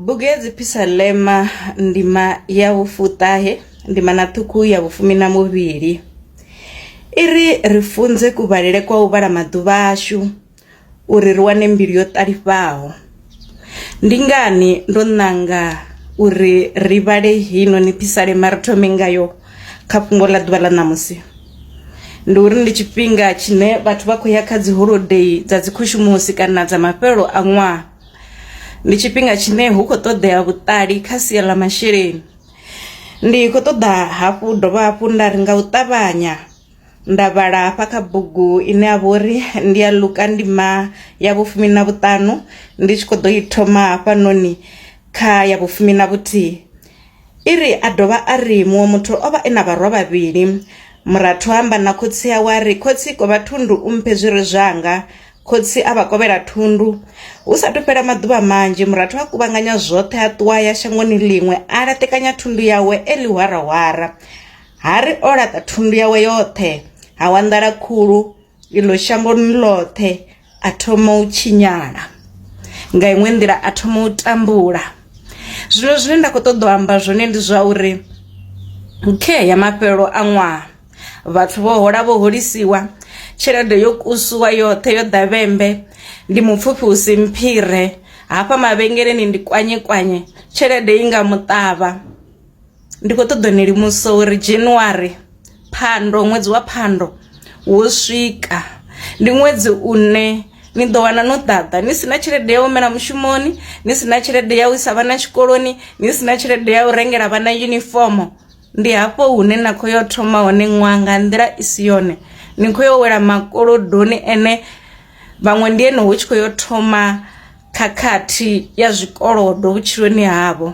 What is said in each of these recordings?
Bugedzi Phisalema ndima ya vhufuṱahe ndima na ṱhukhu ya vhufumi na muvhili i ri ri funze kuvhalele kwa u vhala maḓuvha ashu uri ri wane mbilu yo ṱalifhaho ndi ngani ndo nanga uri ri vhale hino ni phisalema ri thome ngayo kha fhungo ḽa ḓuvha ḽa ṋamusi ndi uri ndi tshifhinga tshine vhathu vha khou ya kha dzi holodei dza dzi khushumusi kana dza mafhelelo a ṅwaha ndi tshifhinga tshine hu khou ṱoḓea vhuṱali kha sia ḽa masheleni ndi khou ṱoḓa hafhu dovha hafhu nda ri nga u ṱavhanya nda vhala hafha kha bugu ine ya vha uri ndi ya luka ndima ya vhufumi na vhuṱanu ndi tshi kho ḓo i thoma hafhanoni kha ya vhufumi na vhuthihi i ri a dovha a ri muṅwe muthu o vha e na vharwa vhavhili murathu amba na khotsi awe a ri khotsi ko vha thundu u mphe zwire zwanga Khotsi a vha kovhela thundu. Hu sa athu fhela maḓuvha manzhi, murathu a kuvhanganya zwoṱhe a ṱuwa a ya shangoni ḽiṅwe a laṱekanya thundu yawe e ḽihwarahwara. Ha ri o laṱa thundu yawe yoṱhe, ha wa nḓala khulu iḽo shangoni ḽoṱhe, a thoma u tshinyala. Nga iṅwe nḓila a thoma u tambula. Zwino zwine nda kho ṱoḓa u amba zwone ndi zwa uri, khe ya mafhelelo a ṅwaha, vhathu vho hola vho holisiwa tshelede yo kusuwa yoṱhe yo ḓavhembe ndi mupfufhi u si mphire hafha mavhengeleni ndi kwanye kwanye tshelede i nga muṱavha ndi khou ṱoḓa ni limusa uri january phando ṅwedzi wa phando wo swika ndi ṅwedzi une ni ḓo wana no ḓaḓa ni sina tshelede ya u humela mushumoni ni sina tshelede ya u isa vhana tshikoloni ni sina tshelede ya u rengela vhana yunifomo Ndi hafho hune na khou yo thoma hone ṅwaha nga nḓila i si yone ni khou yo wela makolodoni ene vhaṅwe ndi ene hu tshi khou yo thoma khakhathi ya zwikolodo vhutshiloni havho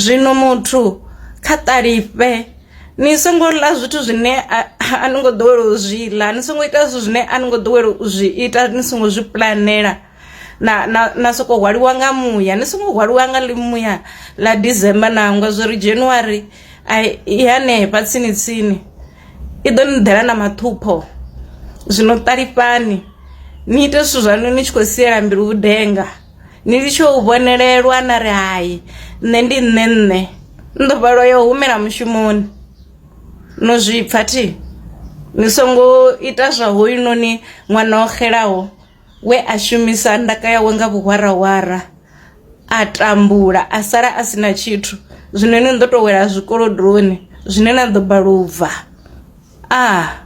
zwino muthu kha ṱalifhe ni songo ḽa zwithu zwine a ni ngo ḓowela u zwi ḽa ni songo ita zwithu zwine a ni ngo ḓowela u zwi ita ni songo zwi puḽanela. na na na soko hwaliwa nga muya ni songo hwaliwa nga ḽi muya ḽa December nangwe zwo ri January ai i hanefha tsini tsini i ḓo ni ḓela na maṱhupho zwino ṱalifhani ni ite zwithu zwaṋu ni tshi khou siela mbilu vhudenga ni litshe u vhonelelwa na ri hai nṋe ndi nṋe nṋe ndo vhalwa yo humela mushumoni no zwipfa thi ni songo ita zwa hoyunoni ṅwana o xelaho we a shumisa ndaka yawe nga vhuhwarahwara a tambula a sala a sina tshithu zwino ni ḓo to wela zwikolodoni zwine na ḓo balubva ah